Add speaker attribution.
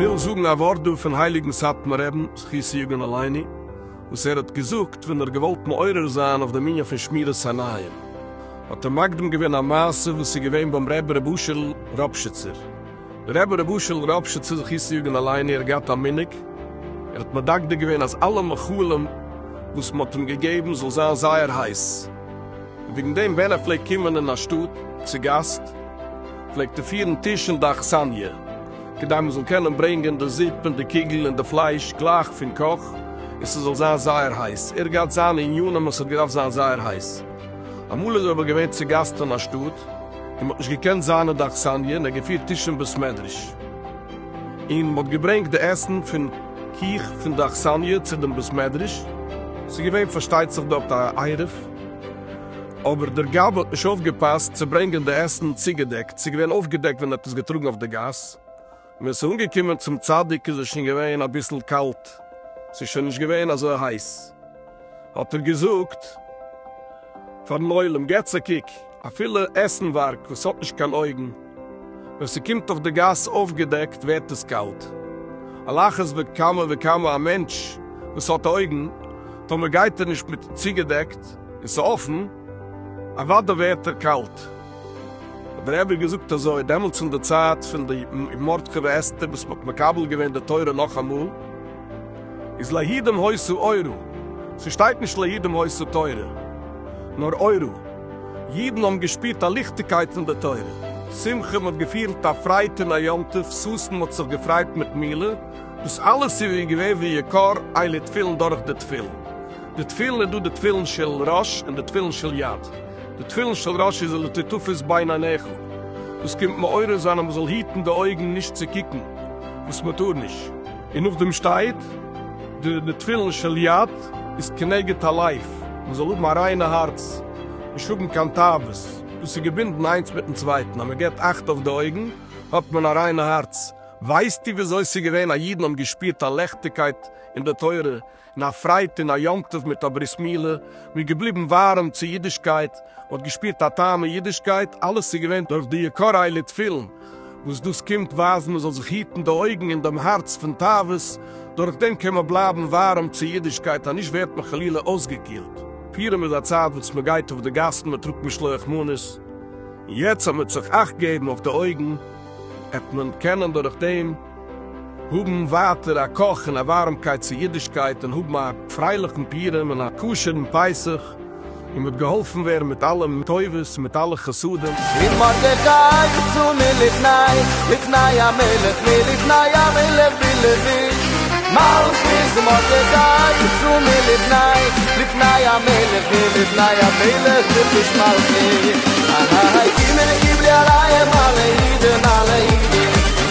Speaker 1: וויל זאגן א ווארט דא פון הייליגן סאטמאר רב זכי' יגון עלינו וואס ער האט געזאגט ווען ער האט געוואלט מעורר זיין אויף דעם ענין פון שמירת עיניים האט ער מקדים געווען א מעשה וואס איז געווען ביים רבי ר' אשר'ל ראפשיצער. ר' אשל ראפשיץ צו זיך אויסצויאגען אליין ער האט געהאט א מנהג ער האט מדקדק געווען אז אלע מאכלים וואס מ'האט אים געגעבן זאל זיין זייער הייס וועגן דעם ווען ער פלעגט קומען אין א שטאט צו גאסט פלעגט ער פירן טיש אין די אכסניא כדי מ'זאל קענען ברענגען די זופ און די קוגל און די פלייש גלייך פון קאך און ס'זאל זיין זייער הייס ער האט געהאט זיינע עניינים אז ס'האט געדארפט זיין זייער הייס אמאל איז ער אבער געווען צו גאסט אין א שטאט. און מ'האט נישט געקענט זיין אין די אכסניא, און ער האט געפירט טישן אין בית מדרש, און מ'האט געברענגט די עסן פון קיך פון די אכסניא צו דעם בית מדרש, ס'איז געווען פארשטייט זיך דארט א עירוב, אבער דער גאב ד האט נישט אויפגעפאסט צו ברענגען די עסן צוגעדעקט, ס'איז געווען אויפגעדעקט ווען ער האט עס געטראגן אויף די גאס. מען איז אנגעקומען צום צדיק איז עס שוין געווען אביסל קאלט, עס איז שוין נישט געווען אזוי הייס, האט ער געזאגט פארן עולם, געטס א קוק, אפילו עסנווארג וואס האט נישט קיין אויגן, ווען ס'קומט אויף די גאס אויפגעדעקט ווערט עס קאלט, על אחת וכמה וכמה א מענטש וואס האט אויגן, טאמער גייט ער נישט מיט צוגעדעקט און ס'אפן, אוודאי ווערט ער קאלט. האט דער רבי געזאגט אזוי דעמאלטס אין די צייט פון די מרדכי ואסתר וואס מ'האט מקבל געווען די תורה נאכאמאל איז ליהודים הוסי' אורו, ס'שטייט נישט ליהודים הוסי' תורה נאר אורו, אידן האבן געשפירט א ליכטיגקייט פון די תורה, שמחה, מ'האט געפיהלט א פרייד אין א יום טוב, ששון, מ'האט זיך געפריידט מיט מילה, דאס אלעס איז ווי געווען ווי יקר עלי תפילין דורך די תפילין. די תפילין איז דא די תפילין של ראש און די תפילין של יד. די תפילין של ראש איז לטטופס בין עיניך. דאס קומט מעורר זיין אז מען זאל היטן די אויגן נישט צו קוקן וואס מען טאר נישט. און נאכדעם שטייט די תפילין של יד איז כנגד הלב, מען זאל האבן א ריינע הארץ, נישט האבן קיין תאוות. דאס איז געבינדן איינס מיטן צווייטן. אז מען גיבט אכט אויף די אויגן האט מען א ריינע הארץ. ווייסטו וויאזוי ס'איז געווען אז אידן האבן געשפירט א לעכטיגקייט אין די תורה און א פרייד און א יום טוב מיט א ברית מילה, מ'איז געבליבן ווארעם צו אידישקייט, מ'האט געשפירט א טעם אין אידישקייט, אלעס איז געווען דורך די יקרי לב תפילין, וואס דאס קומט ווייזן מ'זאל זיך היטן די אויגן און דעם הארץ פון תאוות, דורך דעם קען מען בלייבן ווארעם צו אידישקייט אנישט ווערט מען חלילה אויסגעקילט. פורים איז א צייט וואס מ'גייט אויף די גאסן, מ'טראגט משלוח מנות, און יעצט אז מ'וועט זיך אכט געבן אויף די אויגן, עט מען קענען דורך דעם, האבן ווייטער א קאך און א ווארעמקייט צו אידישקייט און האבן א פרייליכן פורים און א כשר'ן פסח און מ'האט געהאלפן ווערן מיט אלע טובות און מיט אלע חסדים. און מרדכי
Speaker 2: יצא מלפני לפני המלך מלפני המלך בלבוש מלכות מרדכי יצא מלפני לפני המלך מלפני המלך בלבוש מלכות אהההה גימעלע גיבלי עליה אלע אידן אלע אידן